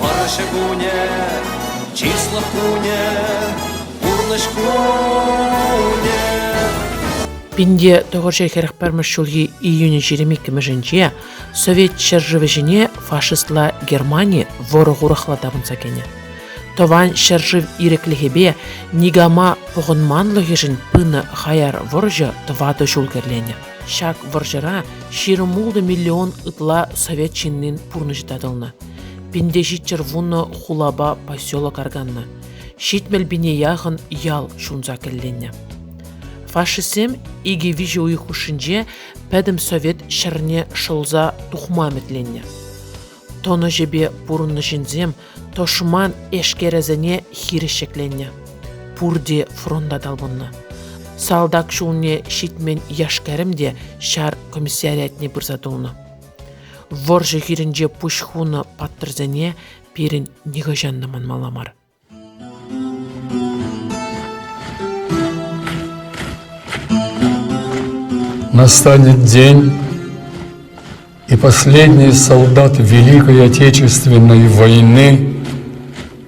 Вӑрҫӑ кунӗ, чыслӑх кунӗ, пурнӑҫ кунӗ. Пинте тӑхӑрҫӗ хӗрӗх пӗрмӗш ҫулхи июнь 22-ӗнче Совет ҫӗршывӗ ҫине фашистла Германи вӑрӑ-хурахла тапӑнса кӗнӗ. Тӑван ҫӗршыв ирӗклӗхӗпе никама пӑхӑнманлӑхӗшӗн пынӑ хаяр вӑрҫӑ тӑватӑ ҫул кӗрленӗ. Ҫак вӑрҫӑра ҫирӗм ултӑ миллион ытла совет ҫыннин пурнӑҫӗ татӑлнӑ. Пинте ҫиччӗр вуннӑ хулапа поселок арканнӑ. Ҫитмӗл пине яхӑн ял ҫунса кӗлленнӗ. Фашистсем икӗ-виҫӗ уйӑх хушшинче пӗтӗм совет ҫӗрне шӑлса тухма ӗмӗтленнӗ. Тӑнӑҫӗпе пурӑннӑ ҫынсем тӑшман эшкерӗсене хирӗҫ ҫӗкленнӗ. Пурте фронта талпӑннӑ. Салтак ҫулне ҫитмен яшкерӗм те ҫар комиссариатне пырса тулнӑ. Вӑрҫӑ хирӗнче пуҫ хунӑ паттӑрсене пирӗн нихӑҫан та манмалла мар. Настанет день, и последний солдат Великой Отечественной войны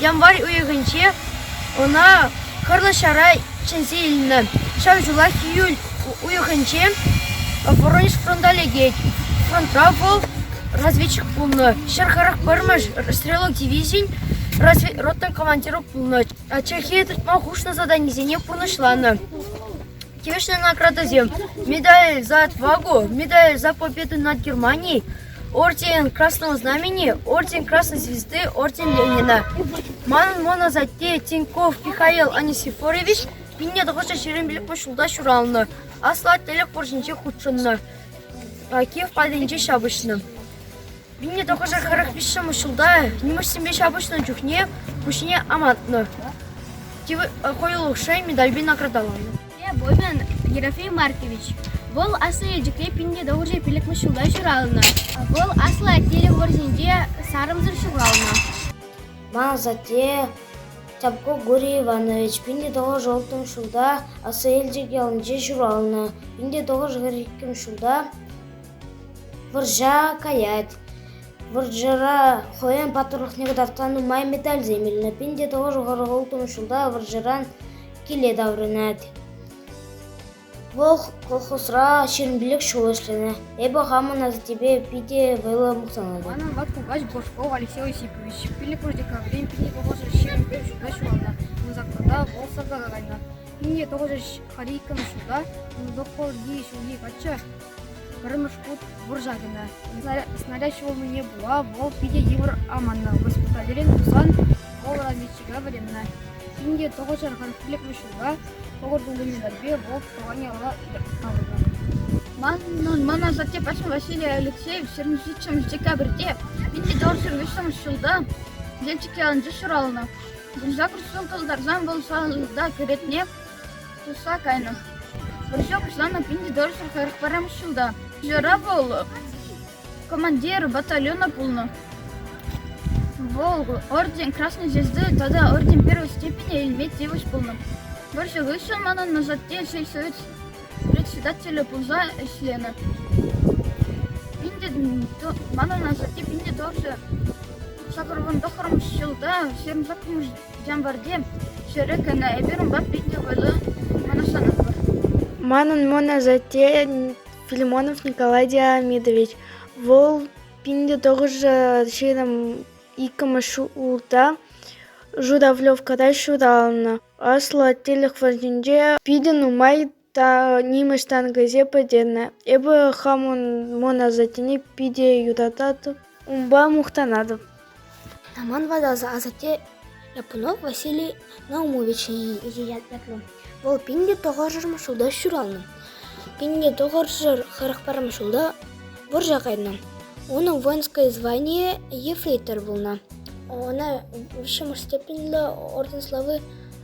Январь уйӑхӗнче ӑна хӑрлӑ ҫара чӗнсе илнӗ. Ҫав ҫулах июль уйӑхӗнче Воронеж фронта лекет. Фронтра вӑл разведчик пулнӑ, ҫӗр харах вӑрмӑш стрелок дивизин разведроттин командирӗ пулнӑ. Чӗлхе тытма хушнӑ заданисене пурнӑҫланӑ. Тивӗҫлӗ наградӑсем: медаль за отвагу, медаль за победу над Германией, Орден Красного Знамени, Орден Красной Звезды, Орден Ленина. Манӑн моносатте Тиньков Михаил Анисифорович 1977 ҫулта ҫуралнӑ. Аслӑ Аттелӗх вӑрҫинче хутшӑннӑ. Кив патӗнче ҫапӑҫнӑ. 1945 ҫулта нимӗҫсемпе ҫапӑҫнӑ чухне пуҫне амантнӑ. Койлукшай медальпе наградаланӑ. Бобин Ерофей Маркович. Вӑл Аслӑ Елчӗкре пин тӑвӑрҫӑ пиллӗкмӗш ҫулта ҫуралнӑ. Вӑл Аслӑ Атнерев вӑрҫинче сарӑмсӑр ҫуралнӑ. Ман асатте Тяпко Гурий Иванович пин тӑвӑрҫӑ улттӑмӗш ҫулта Аслӑ Елчӗк ялӗнче ҫуралнӑ. пин тӑвӑрҫӑ хӗр иккӗмӗш ҫулта вӑрҫа каять. Вӑрҫӑра хӑйӗн паттӑрлӑхне кӑтартса нумай медальсем илнӗ. пин тӑвӑрҫӑ хӑрӑк улттӑмӗш ҫулта вӑрҫӑран киле таврӑнать. Вӑл колхозра ҫирӗмпелек ҫул ӗҫленӗ. Эпӗ хамӑн асаттепе питӗ вӑйлӑ мухтанатӑп. Манӑн ват кукач Божков Алексей Осипович пиллӗкмӗш декабрӗн 1925 ҫулта ҫуралнӑ. Ун заказа вӑл сӑрта кайнӑ. 1900 ҫулта 1900 ҫулхи каччӑ Пӗрремӗш хут вӑрҫа кӗнӗ. Снаряд ҫӑвӑлнине пула вӑл питӗ йывӑр аманнӑ. Госпитальрен тусан вӑл разведчика вӗреннӗ. Ҫӗнӗ тӑхӑрҫархан пилӗклӗ ҫулта тӑхӑр тулли медальпе вӑл тӑван яла таврӑннӑ. Ман асатте Паша Василий Алексеев 27 декабрьте 1928 ҫулта Елчӗкре ӑнча ҫуралнӑ. Вырса кӑшт ҫул кӑлтарсан вӑл салтак ретне Тухса кайнӑ. Вӑрҫа пуҫланӑ пин тӑршшӗ хӗрӗх пӗрремӗш ҫулта. Кӑҫалра вӑл командир батальона пулнӑ. Вӑл орден Красной Звезды тата орден первой степени илме тивӗҫ пулнӑ. Вӑрҫӑ хыҫҫӑн манӑн асатте сельсовет председателӗ пулса ӗҫленӗ. Манӑн асатте пин тӑршшӗ сакӑрвун тӑххӑрмӗш ҫулта ҫырӑнса кӗнӗ Ямвӑрти ҫӗрӗ кӗнӗ, эпир унпа питӗ вӑйлӑ мӑнаҫланатпӑр. Манӑн мӑн асатте Филимонов Николай Диамидович. Вӑл пин тӑхӑршӗ ҫирӗм иккӗмӗш ҫулта Журавлевкӑра ҫуралнӑ. Аслӑ Аттелӗх вӑрҫинче питӗ нумай та нимӗҫ танкӗсем пӗтӗннӗ. Эпӗ хам мӑн асаттене питӗ юрататӑп, унпа мухтанатӑп. Роман ватӑлса асатте Японов Василий Наумовича ятлӑ. Вӑл пин те тӑхӑршар ҫулта ҫуралнӑ. Пин те тӑхӑршар хӑрӑк парӑм ҫулта вӑрҫа кайнӑ. Унӑн воинское звание ефрейтор пулнӑ. Ӑна виҫҫӗмӗш степеньлӗ орден славы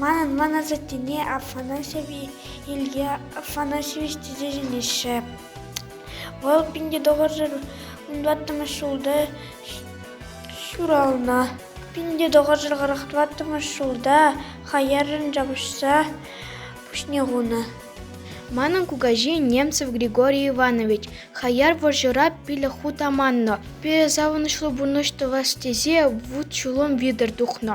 Манӑн мӑн асаттене Афанасьев Илья Афанасьевич тесе чӗнеҫҫӗ. Вӑл пинте тӑхӑршар вунтӑваттӑмӗш ҫулта ҫуралнӑ. Пинте тӑхӑршар хӑрӑхтӑваттӑмӗш ҫулта хаяррӑн ҫапӑҫса пуҫне хунӑ. Манӑн кукаҫи Немцев Григорий Иванович хаяр вӑрҫӑра пилӗк хут аманнӑ. Питӗ савӑнӑҫлӑ пурнӑҫ тӑвас тесе вут-ҫулӑм витӗр тухнӑ.